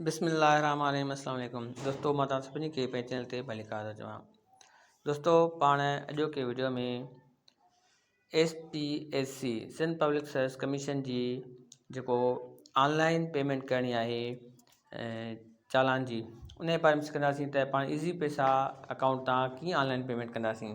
بسم الله الرحمٰن الرحيم السلام عليڪم دوستو مان توهان سڀني کي پنهنجي چينل تي ڀليڪار ٿو چوان دوستو پاڻ اڄوڪي video ۾ S P S C Sindh public service commission جي جيڪو آنلائن پيمنٽ ڪرڻي آهي چالان جي ان جي باري ۾ سکنداسين ته پاڻ ايزي پيسا اڪائونٽ تان ڪيئن آنلائن پيمنٽ ڪنداسين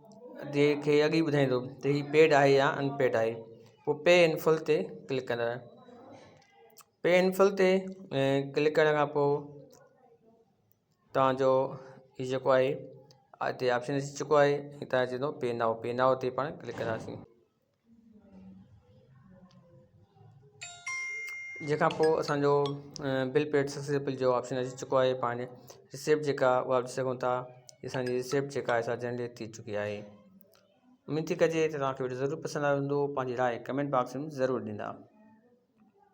دي کي اڳ ئي ٻڌائيندو ته هي پيڊ آهي يا ان پيڊ آهي پوء پي ان فل تي ڪلڪ ڪندڙ پي ان فل تي ڪلڪ ڪرڻ کان پوء تانجو هي جيڪو آهي هتي آپشن اچي چڪو آهي هتان چوندو پي نائو پي نائو تي پاڻ ڪلڪ ڪنداسين جنهن کان پوء اسان جو بل پيڊ سڪسيسفل جو آپشن اچي چڪو آهي پاڻ رسيپٽ جيڪا اها ڏسي سگهون ٿا هي اسان جي رسيپٽ جيڪا آهي سا جنريٽ ٿي چڪي آهي اميد ٿي ڪجي ته توهان کي وڊيو ضرور پسند آيو هوندو پنهنجي راء ڪمينٽ باڪس ۾ ضرور ڏيندا